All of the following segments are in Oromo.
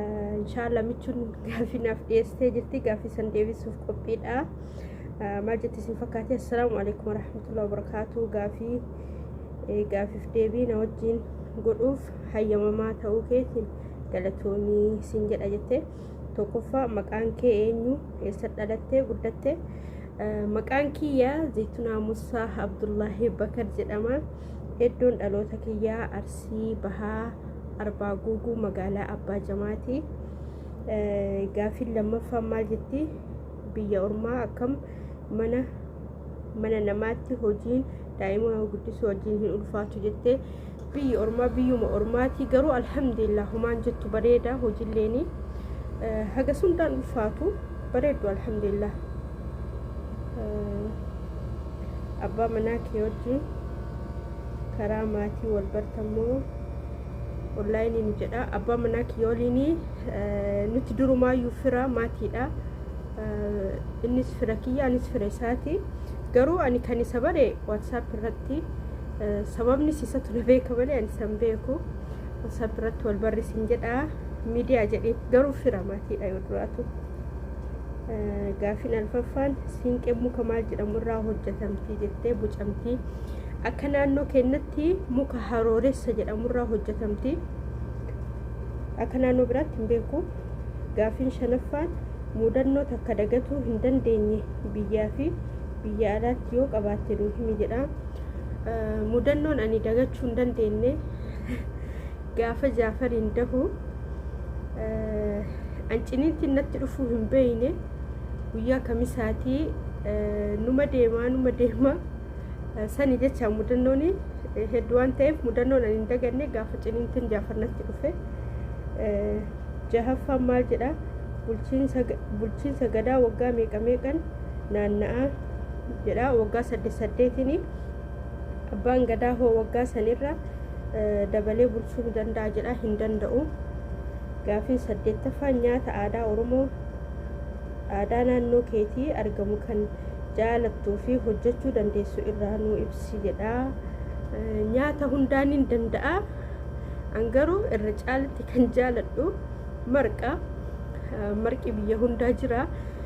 Inshaallah michuun gaaffii naaf dhiyeessitee jirti gaaffii san deebisuuf qophiidha. Maal jetti isin fakkaatee? Assalaamu alaikum warahmatullahi wabarakaatuu gaaffii gaaffiif deebii na wajjin godhuuf hayyamamaa ta'uu keetiin galatoomii siin jedha jettee tokkoffaa maqaan kee eenyu eessa dhalattee guddatte maqaan kiyya zaytunaa musaa abdullaahi bakar jedhama. Iddoon dhaloota kiyyaa Arsii Bahaa Arbaa Guuguu magaalaa Abbaa Jamaati. Gaaffiin lammaffaan maal jetti? Biyya ormaa akkam mana mana namaatti hojiin daa'ima guddisuu wajjin hin ulfaatu jettee biyyi ormaa biyyuma ormaati garuu alhamdulillah humaan jettu bareeda hojiilleeni haga sundaan ulfaatu bareeddu alhamdulillah. abbaa manaa kee wajjin karaa maatii wal bartammoo onlaayinii nu jedha abbaa manaa kiyya waliin nuti durumaayyuu fira maatiidha innis fira kiyya anis fira isaati garuu ani kan isa bare waatsaap irratti sababni isatu na beeka malee ani san beeku waatsaap irratti wal barreessin jedha miidiyaa jedhee garuu fira maatiidha yoo duraatu. Gaaffiin alfaffaan siinqeen muka maal jedhamu irraa hojjetamti jettee bucamti. Akka naannoo keenyatti muka harooressa jedhamu irraa hojjetamti. Akka naannoo biraatti hin beeku. Gaaffiin shanaffaan mudannoo takka dagatuu hin dandeenye biyyaa fi biyya alaatti yoo qabaatte nuu himi jedha. Mudannoon ani dagachuu hin dandeenye Gaafa Jaafariin dahu an ciniintiin natti dhufuu hin beeyne guyyaa kamisaatii numa deemaa numa deemaa sani jecha mudannoon hedduu waan ta'eef mudannoon an hin daganne gaafa ciniintiin Jaafar natti dhufe jahaffaan maal jedha bulchiinsa gadaa waggaa meeqa meeqan naanna'aa jedha waggaa saddeet saddeetiin Abbaan Gadaa hoo waggaa sanirra dabalee bulchuu ni danda'a jedhaa hin danda'u. Gaafiin saddeettaffaan nyaata aadaa Oromoo aadaa naannoo keetii argamu kan jaalattuu fi hojjechuu dandeessu irraa nuu ibsi jedha. Nyaata hundaa nin danda'a. An garuu irra caalatti kan jaaladhu marqa. Marqi biyya hundaa jira.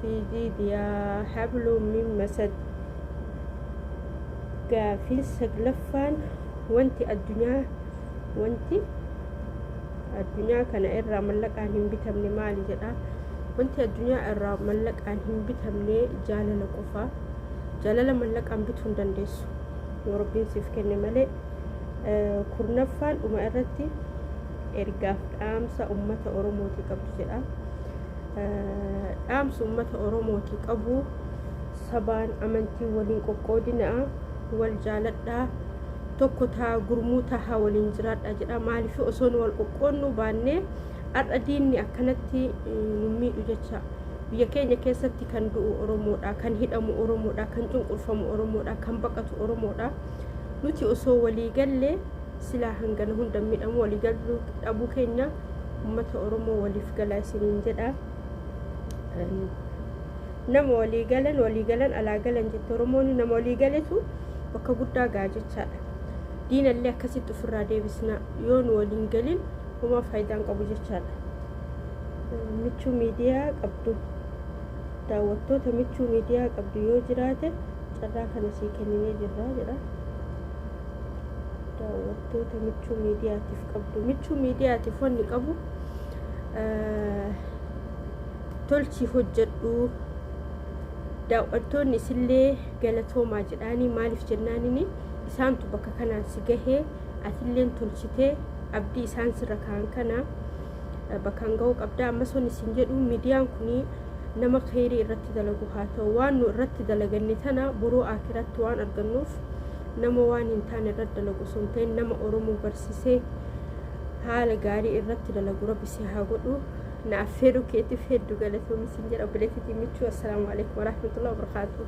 Siijii diyaa habluu min masad Gaafiin saglaffaan wanti addunyaa wanti addunyaa kana irraa mallaqaan hin bitamne maali jedha wanti addunyaa irraa mallaqaan hin bitamne jaalala qofa jaalala mallaqaan bituu hin dandeessu yoo rabbiin siif kenne malee kurnaffaan dhuma irratti ergaaf dhaamsa ummata oromootii qabdu jedha dhaamsa uummata Oromooti qabu sabaan amantii waliin qoqqoodinaa wal jaaladhaa tokko taa gurmuu tahaa waliin jiraadhaa jedha maaliif osoo nu wal qoqqoodnuu baannee har'a diinni akkanatti nu miidhu jecha biyya keenya keessatti kan du'u Oromoodha kan hidhamu Oromoodha kan cunqurfamu Oromoodha kan baqatu Oromoodha nuti osoo walii gallee silaa hangana hunda miidhamu walii galuu dhabuu keenya ummata oromoo waliif galaa isiniin jedha nama walii galan walii galan alaa galan jette oromoon nama walii galetu bakka guddaa ga'a jechaadha diinallee akkasitti ofirraa deebisna yoo nu waliin galin homaa faayidaan qabu jechaadha michuu miidiyaa qabdu daawwattoota michuu miidiyaa qabdu yoo jiraate carraa kana sii kenninee jirra jedha Toota michuu miidiyaatiif qabdu. Michuu miidiyaatiif wanni qabu tolchii hojjedhu daawwattoonni isillee galatoomaa jedhaanii maaliif jennaanini isaantu bakka kanaan si gahee atilleen tolchitee abdii isaan sirra kaan kana bakkaan ga'uu qabda ammas wanni isin jedhu miidiyaan kun nama keerii irratti dalagu haa ta'u waan nu irratti dalaganne tana boroo akiratti waan argannuuf Nama waan hin taane irratti dalagu osoo hin ta'in nama Oromoo barsisee haala gaarii irratti dalagu rabbi si haa godhu. Na affeeruu keetiif heddu galatoomi sin jedha obboleettitii michuu. Assalaamu alaikum warahmatullahi wabarakatuh.